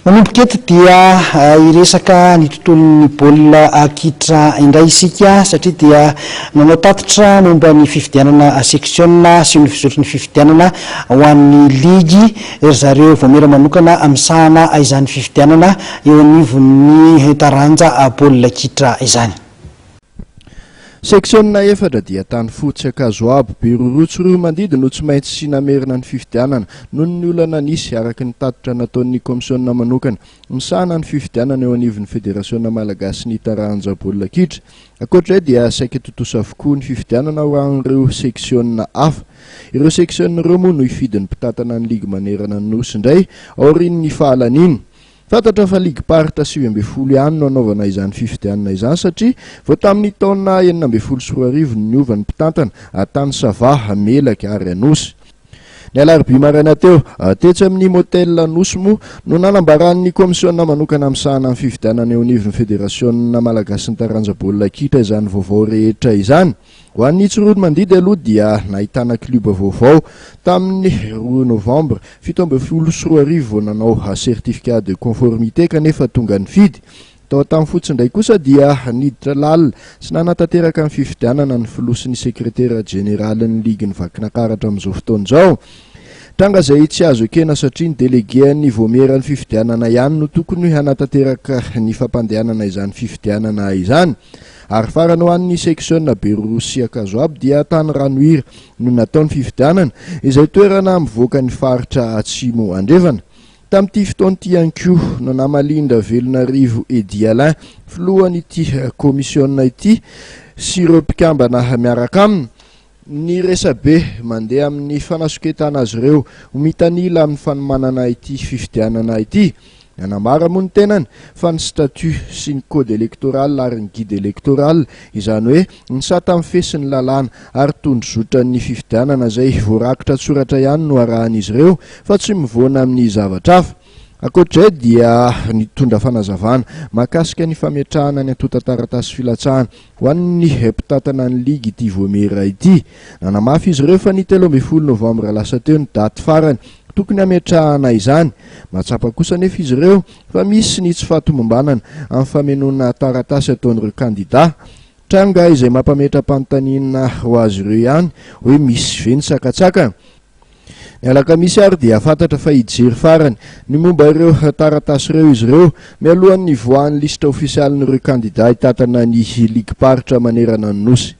Manomboka eto dia hiresaka ny tontolon'ny baolina kitra indray isika satria dia nanao tatitra momba ny fifidianana seksiona sy ny fizotry ny fifidianana ho an'ny ligy ry zareo voamera manokana misahana izany fifidianana eo anivon'ny taranja baolina kitra izany. Seksionina efatra dia tany fotsy, ankazo abo, biroroa tsy roa mandidy no tsy maintsy sy namerina ny fifidianana noho ny olana nisy, araka ny tatitra nataon'ny kaomisionina manokana misahana ny fifidianana eo anivon'ny Federasiona malagasin'ny taranja-baolina kitra. Ankoatra izay dia saika tontosa avokoa ny fifidianana ho an'ireo seksionina hafa. Ireo seksionina ireo moa no hifidy ny mpitantana ny ligy manerana ny Nosy indray aorian'ny fahalaniany. Fantatra fa ligim-paritra sivy ambin'ny folo ihany no hanaovana izany fifidianana izany satria vao tamin'ny taona enina ambin'ny folo sy roa arivo no niova ny mpitantana tany Sava, Melaky ary Anosy. Ny alarobia maraina teo, tetsy amin'ny Motel Anosy moa no nanambaran'ny kaomisiona manokana misahana ny fifidianana eo anivon'ny Federasiona malagasin'ny taranja baolina kitra izany vaovao rehetra izany. Ho an'ny Tsiroanomandidy aloha dia nahitana klioba vaovao tamin'ny roa novambra fito ambin'ny folo sy roa arivo vao nanao certificat de conformité kanefa tonga nifidy tao tamin'ny fotsy indray kosa dia niditra lalina sy nanatanteraka ny fifidianana ny filoha sy ny sekretera jeneralin'ny ligin'ny Vakinakaratra amin'izao fotoana izao. Tranga izay tsy azo ekena satria ny delegen'ny vaomieran'ny fifidianana ihany no tokony hanatanteraka ny fampandehanana izany fifidianana izany. Ary farany ho an'ny seksiona Berorosiakazoabo dia tany Ranohira no natao ny fifidianana, izay toerana mivoaka ny faritra Atsimo Andrefana. Tamin'ity fotoana ity ihany koa no namalian-dRavelonarivo Eddy Alain, filohan'ity kaomisiona ity sy ireo mpikambana miaraka aminy, Ny resabe mandeha amin'ny fanasoketana azy ireo ho mitanila amin'ny fanomanana ity fifidianana ity. Nanambara moa ny tenany fa ny statut sy ny code electoral ary ny guide electoral, izany hoe ny sata mifehy sy ny lalàna ary tondrozotran'ny fifidianana izay voarakitra an-tsoratra ihany no arahan'izy ireo fa tsy mivoana amin'ny zavatra hafa. Ankoatr'izay dia nitondra fanazavana mahakasika ny fametrahana ny antontan-taratasy filatsahana Ho an'ny mpitantana ny ligy ity Vohemera ity, nanamafy izy ireo fa ny telo ambin'ny folo novambra lasa teo ny daty farany tokony hametrahana izany. Mahatsapa kosa anefa izy ireo fa misy ny tsy fahatomombanana amin'ny famenoana taratasy ataon'ireo kandida. Tranga izay mampametra-panontaniana ho azy ireo ihany hoe misy ve ny sakatsakana. Ny alakamisy ary dia fantatra fa hijery farany ny momba ireo taratasy ireo izy ireo, mialohan'ny hivoahan'ny lisitra ofisialin'ireo kandidà hitantana ny ligim-paritra manerana ny Nosy.